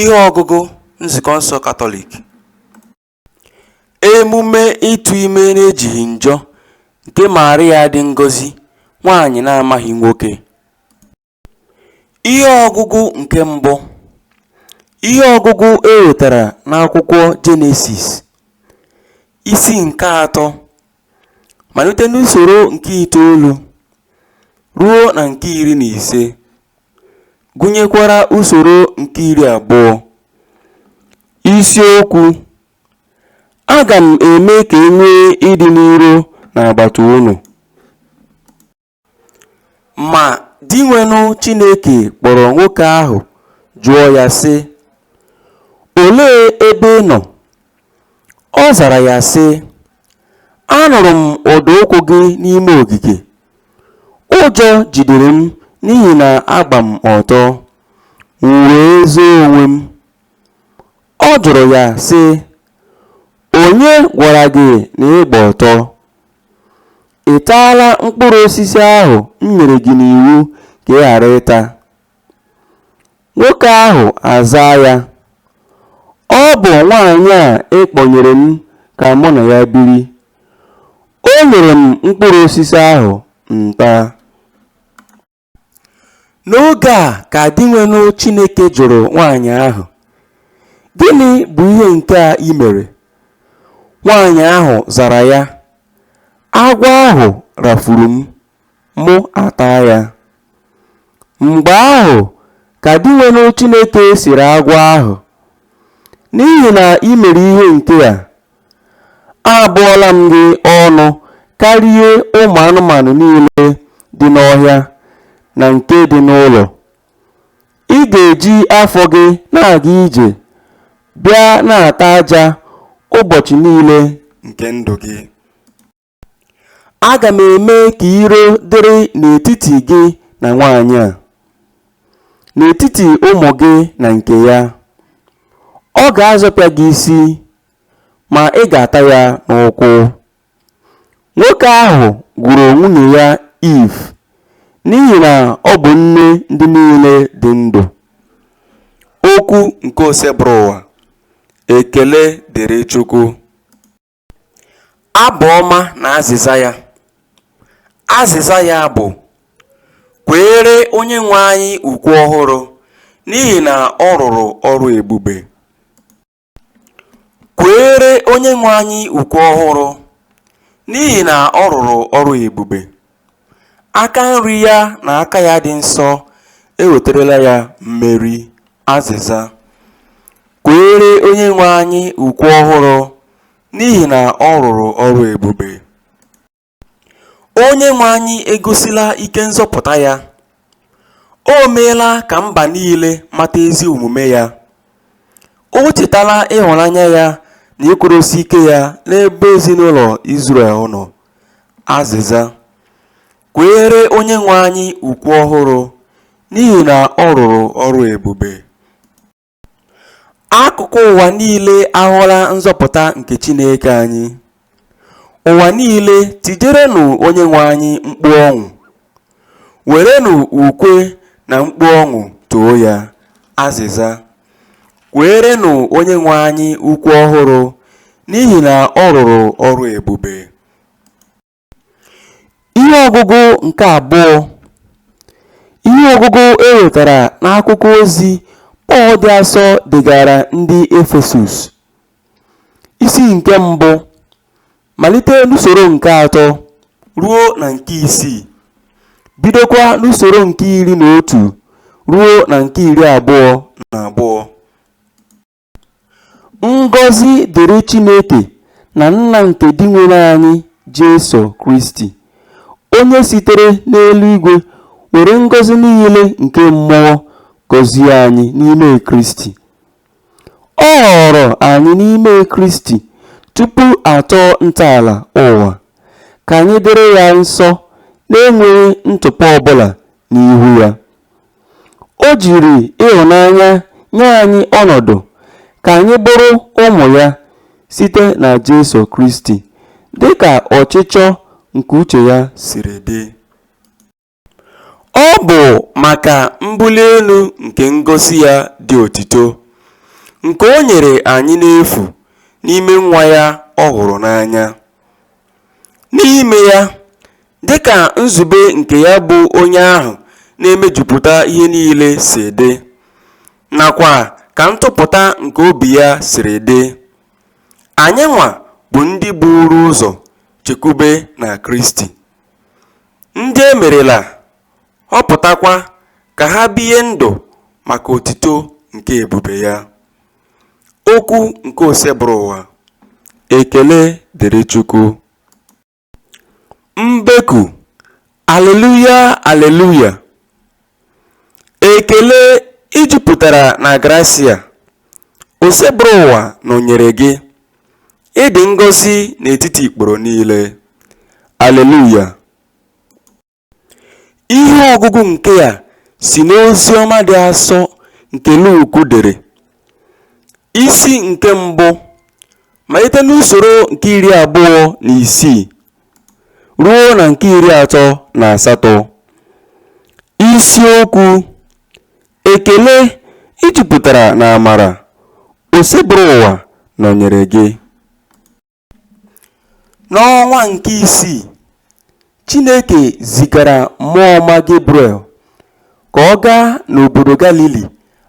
ihe ọgụgụ Nzukọ nsọ Katọlik emume ịtụ ime n'ejighị njọ nke Maria dị ngọzi nwaanyị na-amaghị nwoke ihe ọgụgụ nke mbụ ihe ọgụgụ e wetara n'akwụkwọ Jenesis isi nke atọ malite n'usoro nke itoolu ruo na nke iri na ise gụnyekwara usoro nke iri abụọ isiokwu aga m eme ka e nwee ịdị n'iro n'agbata unu Ma Dinwenụ Chineke kpọrọ nwoke ahụ jụọ ya sị, Olee ebe ị nọ? Ọ zara ya sị, Anụrụ m ụda ụkwụ gị n'ime ogige. Ụjọ jidere m n'ihi na agba m ọtọ, m wee zoo onwe m. Ọ jụrụ ya sị, Onye gwara gị na ị gba ọtọ? Ị taala mkpụrụ osisi ahụ m nyere gị n'iwu ka ị ghara ịta? Nwoke ahụ azaa ya, Ọ bụ nwaanyị a ị kpọnyere m ka mụ na ya biri. O nyere m mkpụrụ osisi ahụ m taa. N'oge a ka Dinwenụ Chineke jụrụ nwaanyị ahụ, Gịnị bụ ihe nke a i mere? Nwaanyị ahụ zara ya, Agwọ ahụ rafuru m, mụ ataa ya. Mgbe ahụ ka Dinwenụ Chineke sịrị agwọ ahụ, N'ihi na i mere ihe nke a, Abụọla m gị ọnụ karịa ụmụ anụmanụ niile dị n'ọhịa na nke dị n'ụlọ. Ị ga-eji afọ gị na-aga ije bịa na-ata aja ụbọchị niile nke ndụ gị. Aga m eme ka iro dịrị n'etiti gị na nwaanyị a, n'etiti ụmụ gị na nke ya. Ọ ga-azọpịa gị isi, ma ị ga-ata ya n'ụkwụ. Nwoke ahụ gụrụ nwunye ya Iv n'ihi na ọ bụ nne ndị niile dị ndụ. Okwu nke Osebụrụwa. Ekele dịrị Chukwu. Abụ ọma na azịza ya. Azịza ya bụ, Kweere Onyenwe anyị ukwe ọhụrụ, n'ihi na ọ rụrụ ọrụ ebube. Kweere Onyenwe anyị ukwe ọhụrụ, n'ihi na ọ rụrụ ọrụ ebube. Aka nri ya na aka ya dị nsọ eweterela ya mmeri. Azịza. Kweere Onyenwe anyị ukwe ọhụrụ n'ihi na ọ rụrụ ọrụ ebube. Onyenwe anyị egosila ike nzọpụta ya. O meela ka mba niile mata ezi omume ya, o chetala ịhụnanya ya na ịkwụdosi ike ya n'ebe ezinụlọ Izrel nọ. Azịza, Kweere Onyenwe anyị ukwe ọhụrụ, n'ihi na ọ rụrụ ọrụ ebube. Akụkụ ụwa niile ahụla nzọpụta nke Chineke anyị. Ụwa niile, tijerenụ Onyenwe anyị mkpu ọṅụ, werenụ ukwe na mkpu ọṅụ too ya. Azịza, Kweerenụ Onyenwe anyị ukwe ọhụrụ, n'ihi na ọ rụrụ ọrụ ebube. Ihe ọgụgụ nke abụọ Ihe ọgụgụ e wetara n'akwụkwọ ozi Pọl dị asọ degaara ndị Efesus Isi nke mbụ malite n'usoro nke atọ ruo na nke isii bidokwa n'usoro nke iri na otu ruo na nke iri abụọ na abụọ. Ngọzi dịrị Chineke na Nna nke Dinwenụ anyị Jesu Kristi, onye sitere n'eluigwe were ngọzi niile nke mmụọ gọzie anyị n'ime Kristi. Ọ họọrọ anyị n'ime Kristi tupu a tọọ ntọala ụwa, ka anyị dịrị ya nsọ n'enweghị ntụpọ ọbụla n'ihu ya. O jiri ịhụnanya nye anyị ọnọdụ ka anyị bụrụ ụmụ ya site na Jesu Kristi, dị ka ọchịchọ nke uche ya siri dị. Ọ bụ maka mbuli elu nke ngọzi ya dị otito, nke o nyere anyị n'efu n'ime Nwa ya ọ hụrụ n'anya. N'ime ya, dị ka nzube nke ya bụ onye ahụ na-emejupụta ihe niile si dị, nakwa ka ntụpụta nke obi ya siri dị, anyịnwa bụ ndị buuru ụzọ chekwube na Kristi, ndị e merela, họpụtakwa ka ha bie ndụ maka otito nke ebube ya. Okwu nke Osebụrụwa Ekele dịrị Chukwu Mbeku Aleluya Aleluya Ekele i jupụtara na grasia Osebụrụwa nọnyere gị Ị dị ngọzi n'etiti ikporo niile. Aleluya Ihe ọgụgụ nke a si n'Oziọma dị asọ nke Luk dere, isi nke mbụ, malite n'usoro nke iri abụọ na isii ruo na nke iri atọ na asatọ. Isiokwu Ekele i jupụtara n'amara, Osebụrụwa nọnyere gị. N'ọnwa nke isii, Chineke zigara mmụọ ọma Gebriel ka ọ gaa n'obodo Galili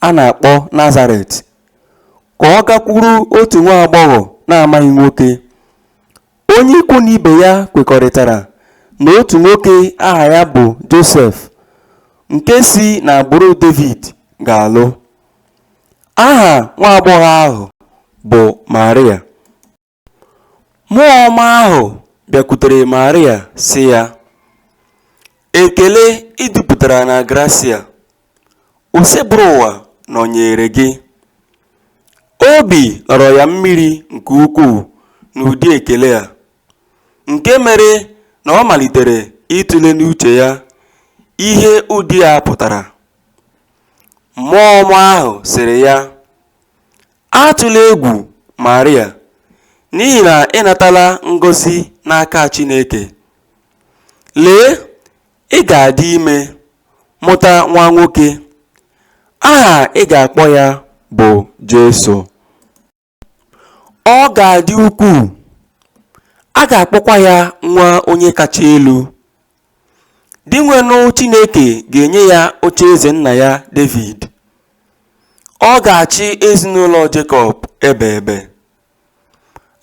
a na-akpọ Nazaret, ka ọ gakwuru otu nwa agbọghọ na-amaghị nwoke. Onye ikwu na ibe ya kwekọrịtara na otu nwoke aha ya bụ Josef, nke si n'agbụrụ Devid, ga-alụ. Aha nwa agbọghọ ahụ bụ Maria. Mmụọ ọma ahụ bịakwutere Maria sị ya, Ekele i jupụtara na grasia, Osebụrụwa nọnyeere gị. Obi lọrọ ya mmiri nke ukwuu n'ụdị ekele a, nke mere na ọ malitere ịtụle n'uche ya ihe ụdị a pụtara. Mmụọ ọma ahụ sịrị ya, Atụla egwu Maria, n'ihi na ị natala ngọzi n'aka Chineke. Lee, ị ga-adị ime, mụta nwa nwoke. Aha ị ga-akpọ ya bụ Jesu. Ọ ga-adị ukwuu, a ga-akpọkwa ya Nwa Onye Kacha Elu. Dinwenụ Chineke ga-enye ya ocheeze nna ya Devid. Ọ ga-achị ezinụlọ Jekọb ebe ebe.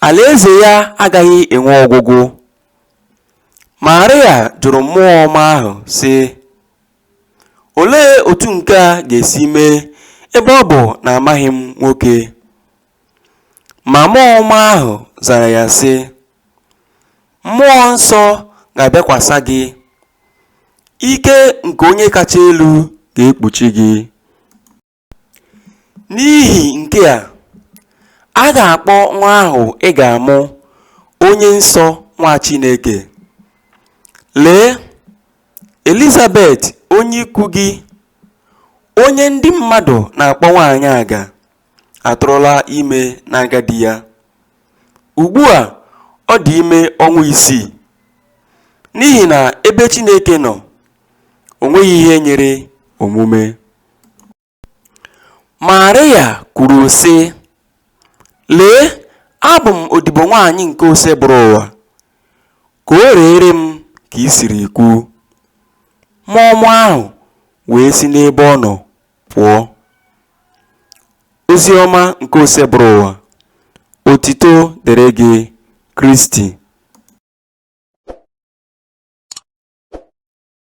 Alaeze ya agaghị enwe ọgwụgwụ. Maria jụrụ mmụọ ọma ahụ, sị, Olee otu nke a ga-esi mee ebe ọ bụ na amaghị m nwoke? Ma mmụọ ọma ahụ zara ya sị, Mmụọ nsọ ga-abịakwasa gị, ike nke onye kacha elu ga-ekpuchi gị. N'ihi nke a, a ga-akpọ nwa ahụ ị ga-amụ Onye Nsọ Nwa Chineke. Lee! Elizabet onye ikwu gị, onye ndị mmadụ na-akpọ nwaanyị aga, atụrụla ime n'agadi ya. Ugbu a, ọ dị ime ọnwa isii. N'ihi na ebe Chineke nọ, o nweghị ihe nyịrị omume. Marịa kwuru, sị: “ Lee, abụ m odibo nwaanyị nke Osebụrụ ụwa, ka o reere m ka i siri kwu. ” Mmụọ ọma ahụ wee si n'ebe ọ nọ pụọ. Ozi ọma nke Osebụrụ ụwa. Otito dịrị gị, Kristi.